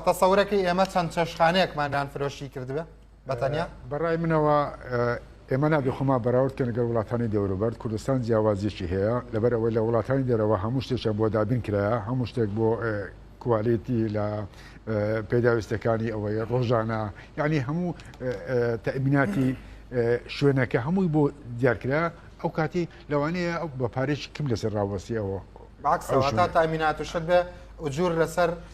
تەسەورەکەی ئێمە چەند چێشخانەیەکمان دان فرۆشی کردبێ بەتەنیا بەڕای منەوە ئێمە نابێ خۆما بەراورد کە لەگەر وڵاتانی دەوروبەر کوردستان جیاوازیەکی هەیە لەبەر ئەوەی لە وڵاتانی دەرەوە هەموو شتێکیان بۆ دابین کرا هەموو شتێک بۆ کوالێتی لە پێداویستەکانی ئەوەی ڕۆژانە یعنی هەموو تەبیناتی شوێنەکە هەمووی بۆ دیارکرا ئەو کاتی لەوانەیە ئەو بە پارێکی کم لەسەر ڕاوەستی ئەوە باکسەوە تا تامینات و شت بێ ئوجور لەسەر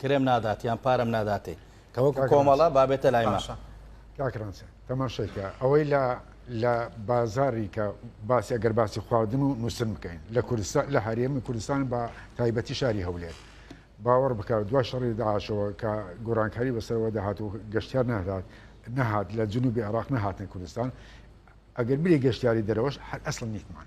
کرێم نادات یان پارەم ناداتێ کەوەکو کۆمەڵە بابێتە لای ماشە کاکرانسە تەماشێکە ئەوەی لە لە بازاری کە باسی ئەگەر باسی خواردن و نووسن بکەین لە کوردستان لە هەرێمی کوردستان بە تایبەتی شاری هەولێت باوەڕ بکات دو شەڕی داعاشەوە کە گۆرانکاری بەسەرەوە دەهات و گەشتیار نهدات نەهات لە جنوبی عراق نەهاتن کوردستان ئەگەر بری گەشتیاری دەرەوەش هەر ئەسڵ نیتمان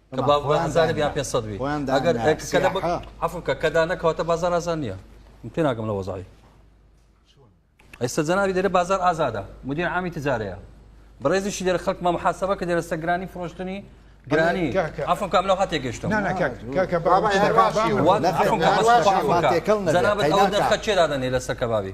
کە باو بە هەزارێ بیان پێ سەد بی ئەگەر عفوکە کە دا نەکەوتە بازار ئازان نییە من پێ ناگەم لە وەزای ئێستا جەنابی دەێ بازار ئازادە مدیر عامی تجارەیە بڕێزیشی دەێ خەک مە محاسبە کە دەێرەستە گرانی فرۆشتنی گرانی ئەفم کام لەو هااتێک گەشتم جەنابەت ئەو دەرخە چێدادەنێ لەسەر کەبابی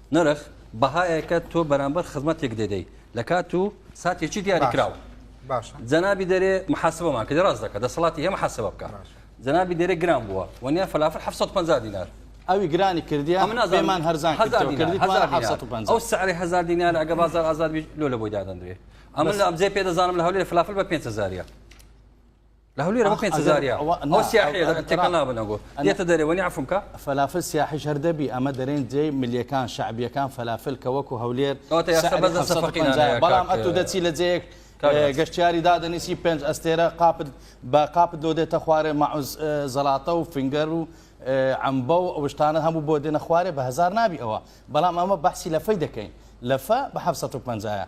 نرخ، بەهایەکە تۆ بەرامبەر خزمەتێک دەدەی لە کات و ساتێکی دیاریکراو. باشە. جەنابی دەرێ محاسبەمان کردی ڕاست دەکە دەسەڵاتی هەیە محاسبە بکە. جەنابی دەرێ گران بووە و نیان فەلافل 750 دینار. ئەوی گرانی کردیە ئەمە نازانم پێمان هەرزان کردی هەزار دینار، کردی هەزار دینار. 750 ئەو سعری هەزار دینار ئەگە بازار ئازاد بی لۆ لە بۆی دادەندرێ ئەمە لە ئەمجێ پێ دەزانم لە هەولێر فلافل بە 5 هەزاریە. لە هەولێر ئەوە 5000 یا ئەوە ئەوە سیاحیە دەبێت تێکەڵ نابنە گۆ دێتە دەرێ وەنی عەفوم کە فەلافل سیاحیش هەر دەبی ئەمە دەرێن جێی ملیەکان شەعبیەکان فەلافل کە وەکو هەولێر کەواتە یا سەعری سەبەت لە سەفەقی 750 نانەیە کاک، بەڵام ئەتوو دەچی لە جێیەک کاک ئێ، ڕەسوڵ. گەشتیاری دادەنیسی پێنج ئەستێرە قاپت بە قاپت لۆ دێتە خوارێ مەعوز ئێ، زەڵاتە و فینگەر و ئێ، عەمبە و ئەو شتانە هەموو بۆ دێنە خوارێ بە هەزار نابی ئەوە بەڵام ئەمە بەحسی لەفەی دەکەین لەفە بە 750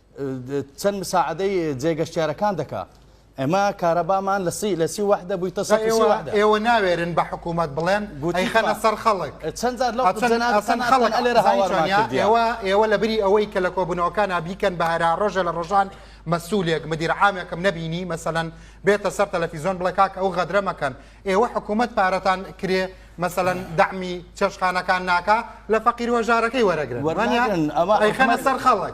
چەن مساعدەی جێگەشتیارەکان دەکا ئەمە کارەبامان لە سی لە سی وحدە بووی تە ئێوە ناوێرن بە حکوومەت بڵێن گوتی خەنە سەر خەڵک چەند خەڵک لێرە ئێوە ئێوە لە بری ئەوەی کە لە کۆبوونەوەکان بیکەن بە هەرا ڕۆژە لە ڕۆژان مەسوولێک مدیرعامێکم نبینی مەسەەن بێتە سەر تەلەفیزۆن بڵێ کاک ئەو غەدرە مەکەن ئێوە حکوومەت پارەتان کرێ مەسەەن دامی چێشخانەکان ناکە لە فەقیر وەژارەکەی وەرەگرن ئەمە ئەیخەنە سەر خەڵک